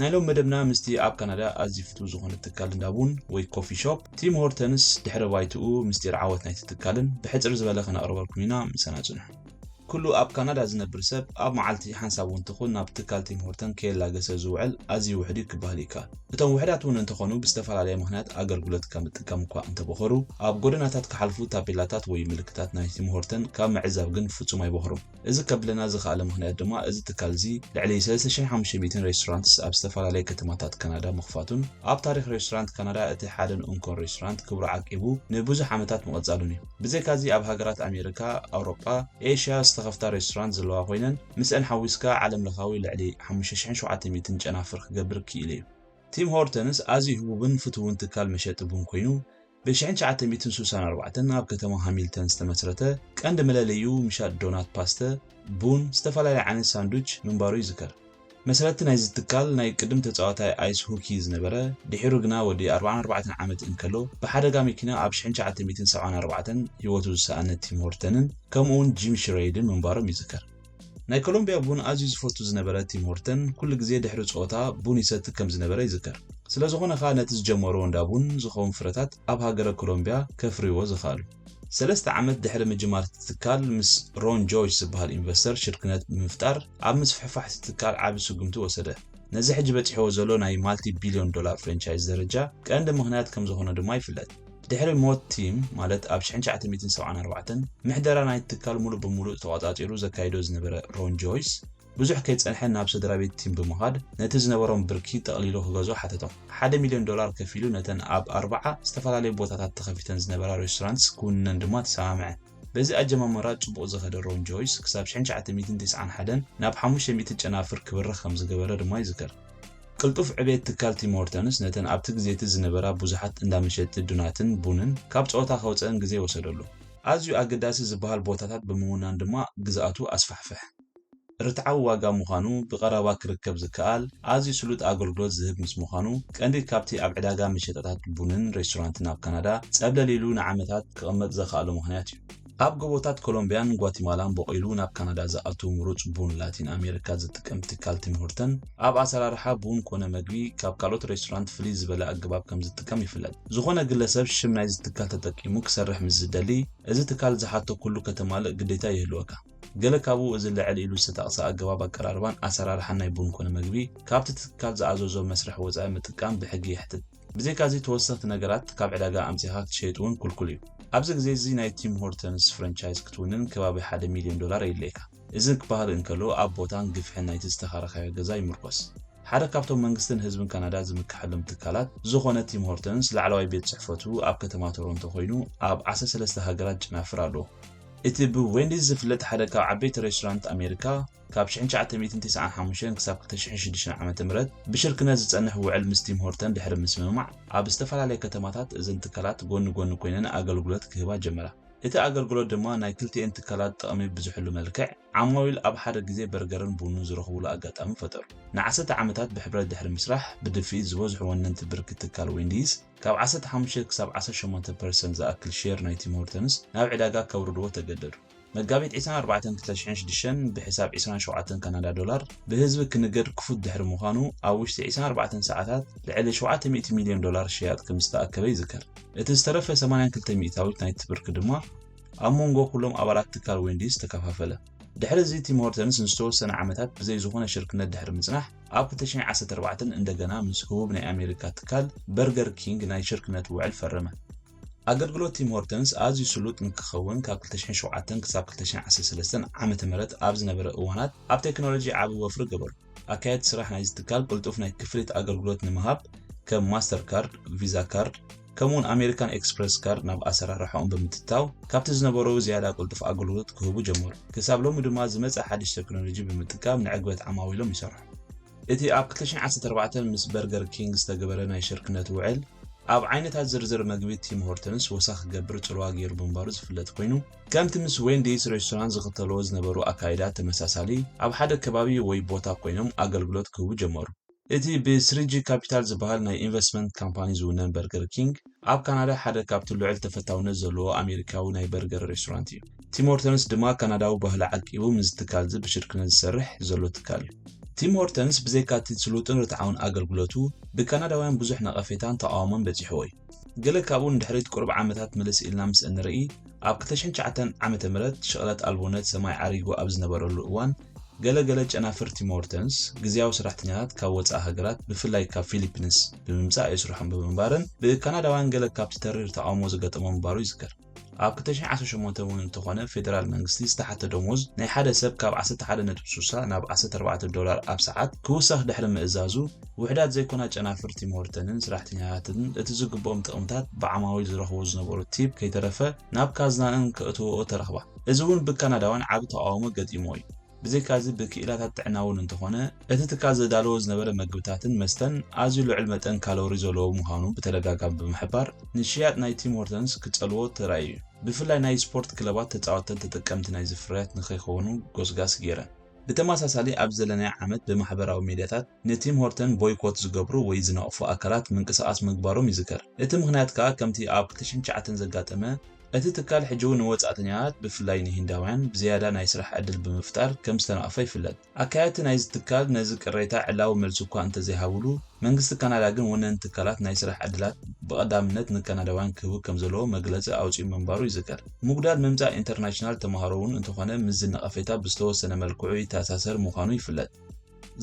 ናይ ሎሚ መደብና ምስቲ ኣብ ካናዳ ኣዝዩ ፍቱው ዝኾነ ትካል እንዳ ቡን ወይ ኮፊ ሾፕ ቲም ሆርተንስ ድሕረ ባይትኡ ምስጢር ዓወት ናይቲ ትካልን ብሕጽር ዝበለ ከነቕርበልኩም ኢና ምሳና ጽንሑ። ኩሉ ኣብ ካናዳ ዝነብር ሰብ ኣብ መዓልቲ ሓንሳብ እውን ትኹን ናብ ትካል ቲም ሆርተን ከየላገሰ ዝውዕል ኣዝዩ ውሕድ እዩ ክበሃል ይከኣል። እቶም ውሕዳት እውን እንተኾኑ ብዝተፈላለየ ምኽንያት ኣገልግሎት ካብ ምጥቃም እኳ እንተበኾሩ ኣብ ጎደናታት ክሓልፉ ታፔላታት ወይ ምልክታት ናይ ቲም ሆርተን ካብ ምዕዛብ ግን ፍጹም ኣይበኹሩን። እዚ ከብለና ዝኸኣለ ምኽንያት ድማ እዚ ትካል'ዚ ልዕሊ ሰለስተ ሽሕን ሓሙሽተ ሚእትን ሬስቶራንትስ ኣብ ዝተፈላለየ ከተማታት ካናዳ ምኽፋቱን ኣብ ታሪኽ ሬስቶራንት ካናዳ እቲ ሓደን ኡንኮን ሬስቶራንት ክብሩ ዓቂቡ ንብዙሕ ዓመታት ምቕጻሉን'ዩ። ብዘይካ'ዚ ኣብ ሃገራት ኣሜሪካ፣ ኣውሮጳ፣ ኤሽያ ዝተኸፍታ ሬስቶራንት ዘለዋ ኮይነን ምስኣን ሓዊስካ ዓለምለኻዊ ልዕሊ ሓሙሽተ ሽሕን ሸውዓተ ሚእትን ጨናፍር ክገብር ክኢሉ'ዩ። ቲም ሆርተንስ ኣዝዩ ህቡብን ፍቱውን ትካል መሸጢ ቡን ኮይኑ፣ ብ ሽሕን ትሽዓተ ሚእትን ስሳን ኣርባዕተን ኣብ ከተማ ሃሚልተን ዝተመስረተ ቀንዲ መለለይኡ ምሻጥ ዶናት ፓስተ፣ ቡን፣ ዝተፈላለየ ዓይነት ሳንዱች ምንባሩ ይዝከር። መስረቲ ናይዚ ትካል ናይ ቅድም ተጻዋታይ ኣይስ ሁኪ ዝነበረ ድሒሩ ግና ወዲ ኣርብዓን ኣርባዕተን ዓመት እንከሎ ብሓደጋ መኪና ኣብ ሽሕን ትሽዓተ ሚእትን ሰብዓን ኣርባዕተን ህይወቱ ዝሰኣነ ቲም ሆርተንን ከምኡውን ጂም ሽረይድን ምንባሮም ይዝከር። ናይ ኮሎምብያ ቡን ኣዝዩ ዝፈቱ ዝነበረ ቲም ሆርተን ኩሉ ግዜ ድሕሪ ጸወታ ቡን ይሰቲ ከም ዝነበረ ይዝከር። ስለ ዝኾነ ከኣ ነቲ ዝጀመርዎ እንዳ ቡን ዝኸውን ፍረታት ኣብ ሃገረ ኮሎምብያ ከፍርይዎ ዝኸኣሉ። ሰለስተ ዓመት ድሕሪ ምጅማር እቲ ትካል ምስ ሮን ጆይስ ዝበሃል ኢንቨስተር ሽርክነት ብምፍጣር ኣብ ምስፍሕፋሕ እቲ ትካል ዓቢ ስጉምቲ ወሰደ። ነዚ ሕጂ በጺሕዎ ዘሎ ናይ ማልቲ ቢልዮን ዶላር ፍረንቻይዝ ደረጃ ቀንዲ ምኽንያት ከም ዝኾነ ድማ ይፍለጥ። ድሕሪ ሞት ቲም ማለት ኣብ ሽሕን ትሽዓተ ሚእትን ሰብዓን ኣርባዕተን ምሕደራ ናይቲ ትካል ሙሉእ ብሙሉእ ተቖጻጺሩ ዘካይዶ ዝነበረ ሮን ጆይስ፣ ብዙሕ ከይጸንሐ ናብ ሰድራቤት ቲም ብምኻድ ነቲ ዝነበሮም ብርኪ ጠቕሊሉ ክገዝኦ ሓተቶም። ሓደ ሚልዮን ዶላር ከፊሉ ነተን ኣብ ኣርብዓ ዝተፈላለዩ ቦታታት ተኸፊተን ዝነበራ ሬስቶራንትስ ክውንነን ድማ ተሰማምዐ። በዚ ኣጀማምራ ጽቡቕ ዝኸደ ሮን ጆይስ ክሳብ ሽሕን ትሽዓተ ሚእትን ትስዓን ሓደን ናብ ሓሙሽተ ሚእቲ ጨናፍር ክብርኽ ከምዝገበረ ድማ ይዝከር። ቅልጡፍ ዕቤት ትካል ቲም ሆርተንስ ነተን ኣብቲ ግዜ'ቲ ዝነበራ ብዙሓት እንዳ መሸጢ ዱናትን ቡንን ካብ ጸወታ ከውጽኣን ግዜ ወሰደሉ። ኣዝዩ ኣገዳሲ ዝበሃል ቦታታት ብምውናን ድማ ግዝኣቱ ኣስፋሕፍሐ። ርትዓዊ ዋጋ ምዃኑ፣ ብቐረባ ክርከብ ዝከኣል፣ ኣዝዩ ስሉጥ ኣገልግሎት ዝህብ ምስ ምዃኑ፣ ቀንዲ ካብቲ ኣብ ዕዳጋ መሸጣታት ቡንን ሬስቶራንትን ኣብ ካናዳ ጸብለል ኢሉ ንዓመታት ክቕመጥ ዘኽኣሎ ምኽንያት እዩ። ኣብ ጎቦታት ኮሎምብያን ጓቲማላን ቦቒሉ ናብ ካናዳ ዝኣቱ ምሩጽ ቡን ላቲን ኣሜሪካ ዝጥቀም ትካል ቲም ሆርተን፣ ኣብ ኣሰራርሓ ቡን ኮነ መግቢ ካብ ካልኦት ሬስቶራንት ፍልይ ዝበለ ኣገባብ ከም ዝጥቀም ይፍለጥ። ዝኾነ ግለሰብ ሽም ናይዚ ትካል ተጠቂሙ ክሰርሕ ምስ ዝደሊ፣ እዚ ትካል ዝሓቶ ኩሉ ከተማልእ ግዴታ ይህልወካ። ገለ ካብኡ እዚ ልዕል ኢሉ ዝተጠቕሰ ኣገባብ ኣቀራርባን ኣሰራርሓን ናይ ቡን ኮነ መግቢ ካብቲ ትካል ዝኣዘዞ መስርሕ ወጻኢ ምጥቃም ብሕጊ የሕትት። ብዘይካዚ ተወሰኽቲ ነገራት ካብ ዕዳጋ ኣምጺኻ ክትሸይጥ እውን ኩልኩል እዩ። ኣብዚ ግዜ እዚ ናይ ቲም ሆርተንስ ፍረንቻይዝ ክትውንን ከባቢ ሓደ ሚልዮን ዶላር የድልየካ። እዚ ክበሃል እንከሎ ኣብ ቦታን ግፍሕን ናይቲ ዝተኻረኻዮ ገዛ ይምርኮስ። ሓደ ካብቶም መንግስትን ህዝብን ካናዳ ዝምከሐሎም ትካላት ዝኾነ ቲም ሆርተንስ ላዕለዋይ ቤት ጽሕፈቱ ኣብ ከተማ ቶሮንቶ ኮይኑ ኣብ ዓሰርተ ሰለስተ ሃገራት ጨናፍር ኣለዎ። እቲ ብዌንዲስ ዝፍለጥ ሓደ ካብ ዓበይቲ ሬስቶራንት ኣሜሪካ፣ ካብ ሽሕን ትሽዓተ ሚእትን ቴስዓን ሓሙሽተን ክሳብ ክልተ ሽሕን ሽዱሽተን ዓመተ ምህረት ብሽርክነት ዝጸንሕ ውዕል ምስ ቲም ሆርተን ድሕሪ ምስምማዕ፣ ኣብ ዝተፈላለየ ከተማታት እዘን ትካላት ጎኒ ጎኒ ኮይነን ኣገልግሎት ክህባ ጀመራ። እቲ ኣገልግሎት ድማ ናይ ክልቲኤን ትካላት ጥቕሚ ብዝሕሉ መልክዕ፣ ዓማዊል ኣብ ሓደ ግዜ በርገርን ቡንን ዝረኽቡሉ ኣጋጣሚ ፈጠሩ። ንዓሰርተ ዓመታት ብሕብረት ድሕሪ ምስራሕ፣ ብድፍኢት ዝበዝሑ ወነንቲ ብርኪ ትካል ዌንዲይስ፣ ካብ ዓሰርተ ሓሙሽተ ክሳብ ዓሰርተ ሸሞንተ ፐርሰንት ዝኣክል ሼር ናይ ቲም ሆርተንስ ናብ ዕዳጋ ከውርድዎ ተገደዱ። መጋቢት ዕስራን ኣርባዕተን ክልተ ሽሕን ሽዱሽተን ብሕሳብ ዕስራን ሸውዓተን ካናዳ ዶላር ብህዝቢ ክንገድ ክፉት ድሕሪ ምዃኑ ኣብ ውሽጢ ዕስራን ኣርባዕተን ሰዓታት ልዕሊ ሸውዓተ ሚእቲ ሚልዮን ዶላር ሸያጥ ከምዝተኣከበ ይዝከር። እቲ ዝተረፈ ሰማንያን ክልተ ሚእታዊት ናይቲ ብርኪ ድማ ኣብ ሞንጎ ኩሎም ኣባላት ትካል ዌንዲስ ተከፋፈለ። ድሕሪ እዚ ቲም ሆርተንስ ንዝተወሰነ ዓመታት ብዘይ ዝኾነ ሽርክነት ድሕሪ ምጽናሕ ኣብ ክልተ ሽሕን ዓሰርተ ኣርባዕተን እንደገና ምስ ህቡብ ናይ ኣሜሪካ ትካል በርገር ኪንግ ናይ ሽርክነት ውዕል ፈረመ። ኣገልግሎት ቲም ሆርተንስ ኣዝዩ ስሉጥ ንክኸውን ካብ 2007 ክሳብ 2013 ዓመተ ምህረት ኣብ ዝነበረ እዋናት ኣብ ቴክኖሎጂ ዓቢ ወፍሪ ገበሩ። ኣካየድቲ ስራሕ ናይዚ ትካል ቅልጡፍ ናይ ክፍሊት ኣገልግሎት ንምሃብ ከም ማስተር ካርድ፣ ቪዛ ካርድ፣ ከምኡ'ውን ኣሜሪካን ኤክስፕረስ ካርድ ናብ ኣሰራርሓኦም ብምትታው ካብቲ ዝነበሩ ዝያዳ ቅልጡፍ ኣገልግሎት ክህቡ ጀመሩ። ክሳብ ሎሚ ድማ ዝመጸ ሓድሽ ቴክኖሎጂ ብምጥቃም ንዕግበት ዓማዊሎም ይሰርሑ። እቲ ኣብ ክልተ ሽሕ ዓሰርተ ኣርባዕተ ምስ በርገር ኪንግ ዝተገበረ ናይ ሽርክነት ውዕል፣ ኣብ ዓይነታት ዝርዝር መግቢ ቲም ሆርተንስ ወሰኽ ክገብር ጽልዋ ገይሩ ምንባሩ ዝፍለጥ ኮይኑ፣ ከምቲ ምስ ዌንዲስ ሬስቶራንት ዝኽተልዎ ዝነበሩ ኣካይዳ ተመሳሳሊ፣ ኣብ ሓደ ከባቢ ወይ ቦታ ኮይኖም ኣገልግሎት ክህቡ ጀመሩ። እቲ ብ ስሪጂ ካፒታል ዝበሃል ናይ ኢንቨስትመንት ካምፓኒ ዝውነን በርገር ኪንግ፣ ኣብ ካናዳ ሓደ ካብቲ ልዑል ተፈታውነት ዘለዎ ኣሜሪካዊ ናይ በርገር ሬስቶራንት እዩ። ቲም ሆርተንስ ድማ ካናዳዊ ባህሊ ዓቂቡ ምስዚ ትካልዚ ብሽርክነት ዝሰርሕ ዘሎ ትካል እዩ። ቲም ሆርተንስ ብዘይካቲ ስሉጥን ርትዓውን ኣገልግሎቱ፣ ብካናዳውያን ብዙሕ ነቐፌታን ተቓውሞን በጺሕዎ እዩ። ገለ ካብኡ ንድሕሪት ቁሩብ ዓመታት ምልስ ኢልና ምስ እንርኢ፣ ኣብ ክልተ ሽሕን ትሽዓተን ዓመተ ምህረት ሽቕለት ኣልቦነት ሰማይ ዓሪጉ ኣብ ዝነበረሉ እዋን፣ ገለ ገለ ጨናፍር ቲም ሆርተንስ፣ ግዝያዊ ሰራሕተኛታት ካብ ወጻኢ ሃገራት ብፍላይ ካብ ፊሊፕንስ ብምምጻእ የስርሖም ብምንባረን፣ ብካናዳውያን ገለ ካብቲ ተሪር ተቓውሞ ዘጋጠሞ ምንባሩ ይዝከር። ኣብ ክልተ ሽሕን ዓሰርተ ሸሞንተን እውን እንተኾነ ፌደራል መንግስቲ ዝተሓተ ደሞዝ ናይ ሓደ ሰብ ካብ ዓሰርተ ሓደ ነጥቢ ስሳ ናብ ዓሰርተ ኣርባዕተ ዶላር ኣብ ሰዓት ክውሰኽ ድሕሪ ምእዛዙ፣ ውሑዳት ዘይኮና ጨናፍር ቲም ሆርተንን ሰራሕተኛታትን እቲ ዝግብኦም ጥቕምታት ብዓማዊል ዝረኽቦ ዝነበሩ ቲፕ ከይተረፈ ናብ ካዝናኣን ከእትወኦ ተረኽባ። እዚ እውን ብካናዳውያን ዓቢ ተቓውሞ ገጢምዎ እዩ። ብዘይካዚ ብክኢላታት ጥዕና እውን እንተኾነ እቲ ትካል ዘዳለዎ ዝነበረ መግብታትን መስተን ኣዝዩ ልዑል መጠን ካሎሪ ዘለዎ ምዃኑ ብተደጋጋሚ ብምሕባር ንሽያጥ ናይ ቲም ሆርተንስ ክጸልዎ ተራእዩ እዩ። ብፍላይ ናይ ስፖርት ክለባት ተጻወተን ተጠቀምቲ ናይዚ ፍርያት ንኸይኮኑ ጎስጋስ ገይረን። ብተመሳሳሊ ኣብዚ ዘለናዮ ዓመት ብማሕበራዊ ሚድያታት ንቲም ሆርተን ቦይኮት ዝገብሩ ወይ ዝነቕፉ ኣካላት ምንቅስቓስ ምግባሮም ይዝከር። እቲ ምኽንያት ከኣ ከምቲ ኣብ ክልተ ሽሕን ትሽዓተን ዘጋጠመ፣ እቲ ትካል ሕጂ'ውን ንወጻእተኛታት ብፍላይ ንሂንዳውያን ብዝያዳ ናይ ስራሕ ዕድል ብምፍጣር ከም ዝተነቕፈ ይፍለጥ። ኣካየድቲ ናይዚ ትካል ነዚ ቅሬታ ዕላዊ መልሲ እኳ እንተዘይሃቡሉ፣ መንግስቲ ካናዳ ግን ወነንቲ ትካላት ናይ ስራሕ ዕድላት ብቐዳምነት ንካናዳውያን ክህቡ ከም ዘለዎ መግለጺ ኣውጺኡ ምንባሩ ይዝከር። ምጉዳል ምምጻእ ኢንተርናሽናል ተመሃሮ'ውን እንተኾነ ምስዚ ነቐፌታ ብዝተወሰነ መልክዑ ይተኣሳሰር ምዃኑ ይፍለጥ።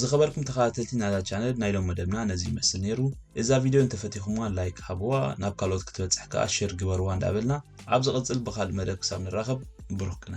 ዝኸበርኩም ተኸታተልቲ ናይዛ ቻነል ናይ ሎም መደብና ነዚ ይመስል ነይሩ እዛ ቪድዮ እንተፈቲኹምዋ ላይክ ሃብዋ ናብ ካልኦት ክትበፅሕ ከዓ ሼር ግበርዋ እንዳበልና ኣብ ዝቕፅል ብካልእ መደብ ክሳብ ንራኸብ ብሩክ ቅነ